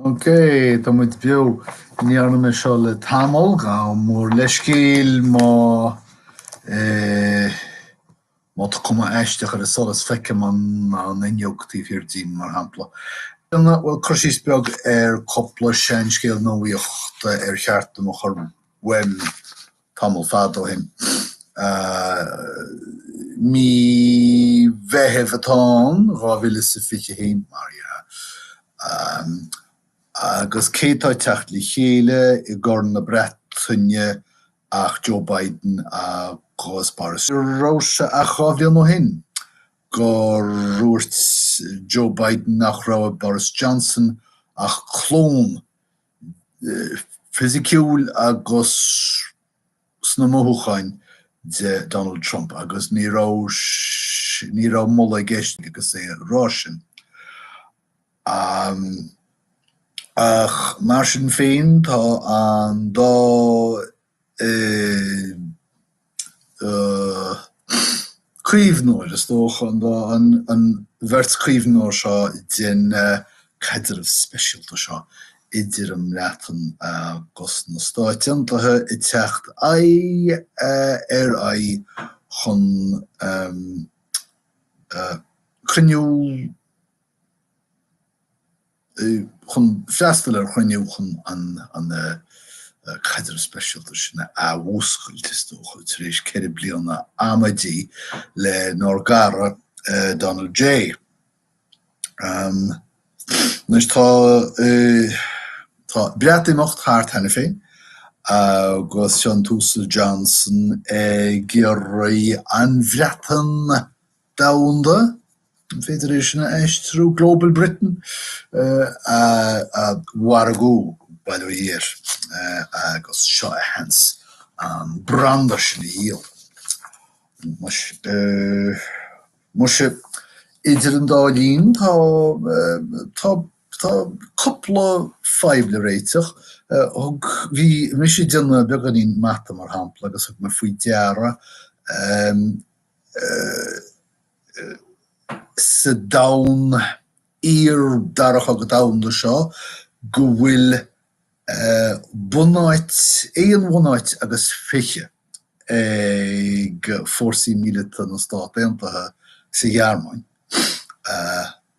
Ok, tá muid beo. Ní dhearna mé seo le tamall, gabh mo leithscéal, má eh, má tá cuma aisteach ar an solas feicim an an fhuinneog taobh thiar díom mar shampla. Bhuel cur síos beag ar cúpla seanscéal nuaíochta ar cheart dom a chur uaim. tamall fada ó shin. Mí Mheithimh atá ann, 2021, mar dhea, agus cé atá ag teacht le chéile i gCorn na Breataine ach Joe Biden agus Boris Johnson. Ní raibh sé ach dhá bhliain ó shin gur dhúirt Joe Biden nach raibh i Boris Johnson ach clón fisiciúil agus sna mothúcháin de Donald Trump agus ní raibh ní raibh moladh i gceist aige agus é á rá sin. Ach mar sin féin tá an dá caomhnóir, is dócha, an dá, an bheirt caomhnóir seo den caidreamh speisialta seo idir an mBreatain agus na Stáit Aontaithe ag teacht aghaidh ar aghaidh chun cruinniú. chun freastal ar chruinniú chun an caidreamh speisialta sin a athmhúscailt, is dócha, tar éis ceithre bliana amaidí lenár gcara Donald J. Anois tá Breatimeacht thart cheana féin agus seo an tUasal Johnson ag iarraidh an Bhreatain Domhanda, an féidir é sin a aistriú? Global Britain, a mhargú, bail ó Dhia air, agus seo a sheans an branda sin a dhíol. Muise, idir an dá linn, tá cúpla fadhb le réiteach. Bhí mise ag déanamh beagáinín mata, mar shampla, agus thug mé faoi deara, sa domhan iar-Dara Cogadh Domhanda seo go bhfuil bunáit, aon bhunáit agus fiche ag fórsaí míleata na Stát Aontaithe sa Ghearmáin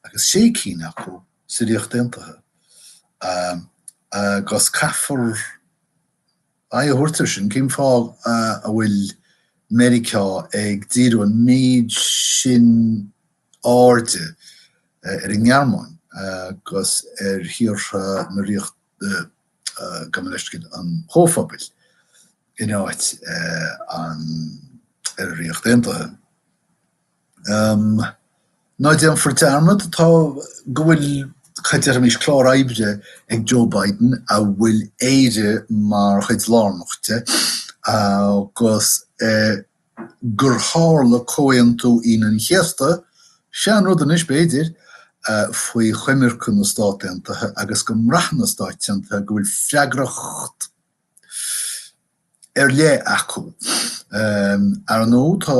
agus sé cinn acu sa Ríocht Aontaithe agus caithfear Aghaidh a thabhairt air sin, cén fáth a bhfuil Meiriceá ag díriú an méid sin airde ar an nGearmáin agus ar thíortha na Ríochta, gabh mo leithscéal, an Chomhphobail in áit ar an Ríocht Aontaithe? Ná déanfar dearmad, tá, go bhfuil, cad a déarfaimis, clár oibre ag Joe Biden a bhfuil Éire mar chuid lárnach de agus gur tharla Comhaontú Aoine an Chéasta, seanrud anois b'fhéidir, faoi choimirce na Stát Aontaithe agus go mbraitheann na Stáit Aontaithe go bhfuil freagracht ar leith acu. Ar ndóigh, tá,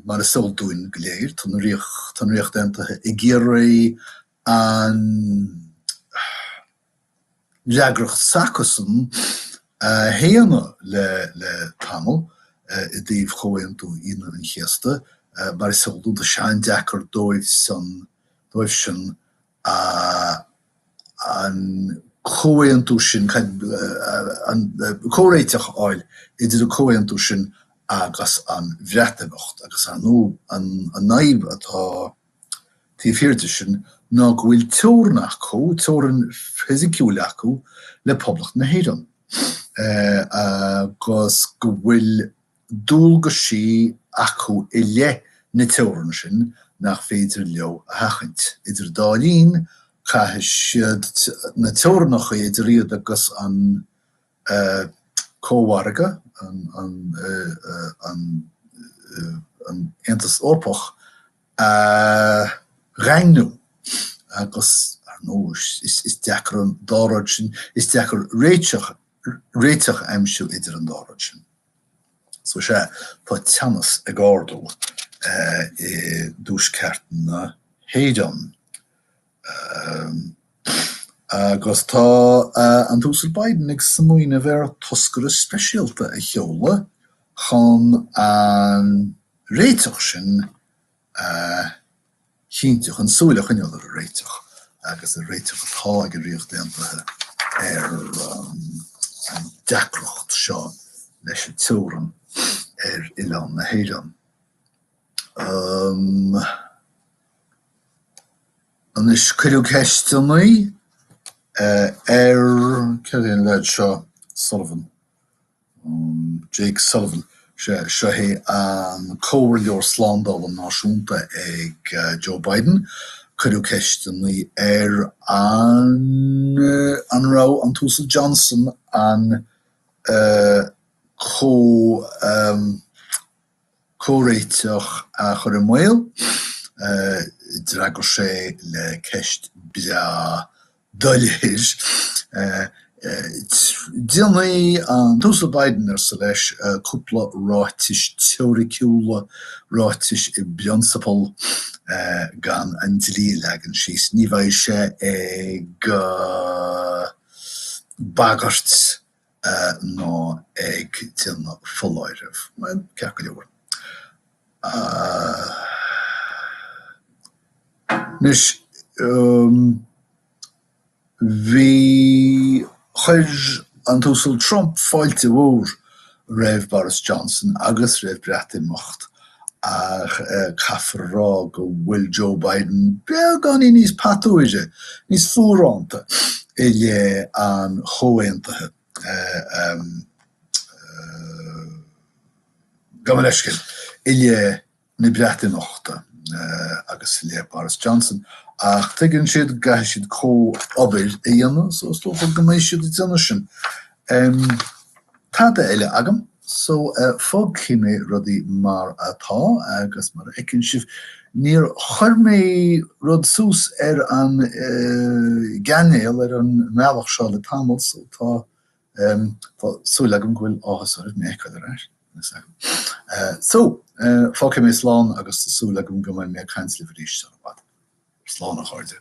mar is eol dúinn go léir, tá na, tá an Ríocht Aontaithe ag iarraidh an fhreagracht s'acusan a shéanadh le, le tamall i dtaobh Chomhaontú Aoine an Chéasta, mar is eol dúinn, tá sé an-deacair dóibhsan, dóibhsean an comhaontú sin, comhréiteach a fháil idir an comhaontú sin agus an Bhreatimeacht, agus ar ndóigh an fhadhb atá taobh thiar de sin ná go bhfuil teorainn acu, teorainn fisiciúil acu le Poblacht na hÉireann, agus go bhfuil. dualgais acu i leith na teorann sin nach féidir leo a sheachaint. Idir an dá linn, caithfidh siad na teorannacha idir iad agus an Cómhargadh, an Aontas Eorpach, a dhaingniú. Agus, ar ndóigh, is deacair an dá rud sin, is deacair réiteach a aimsiú idir an dá rud sin. So sea, tá teannas ag ardú i dtuaisceart na hÉireann. Agus tá an tUasal Biden ag smaoineamh ar thoscaire speisialta a sheoladh chun an réiteach sin a chinntiú, chun súil a choinneáil ar an réiteach agus ar réiteach atá ag an Ríocht Aontaithe ar an deacracht seo leis an teorann ar oileán na hÉireann. Anois, cuireadh ceisteanna ar, cé hé an leaid seo, Sullivan? Jake Sullivan, seo hé an Comhairleoir Slándála Náisiúnta ag Joe Biden. Cuireadh ceisteanna air an raibh an tUasal Johnson an comh. Comhréiteach a chur i mbaol? D'fhreagair sé le ceist beag doiléir. Déanfaidh an tUasal Biden, arsa leis, cúpla ráitis teoiriciúla, ráitis i bprionsabal, gan an dlí a leagan síos. Ní bheidh sé ag bagairt. ná ag déanamh foláireamh. Bhuel, ceart go leor. Anois, bhí, chuir an tUasal Trump fáilte mhór roimh Boris Johnson agus roimh Breatimeacht Ach caithfear a rá go bhfuil Joe Biden beagáinín níos patuaire, níos fuaránta i leith an Chomhaontaithe. Gabh mo leithscéal, i leith na Breatimeachta agus i leith Boris Johnson. Ach tuigeann siad go gcaithfidh siad comhobair a dhéanamh so is dócha go mbeidh siad ag déanamh sin. Em. Tada eile agam. So, eh, fágfaidh mé rudaí mar atá agus mar a fheiceann sibh, níor chuir mé rud suas ar an, eh, gcainéal, ar an mbealach seo le tamall so tá, em, tá súil agam go bhfuil áthas oraibh mé a fheiceáil ar ais. Eh, so, eh, fágfaidh mé slán agus tá súil agam go mbeidh mé ag caint libh arís sar i bhfad. Slán a chairde.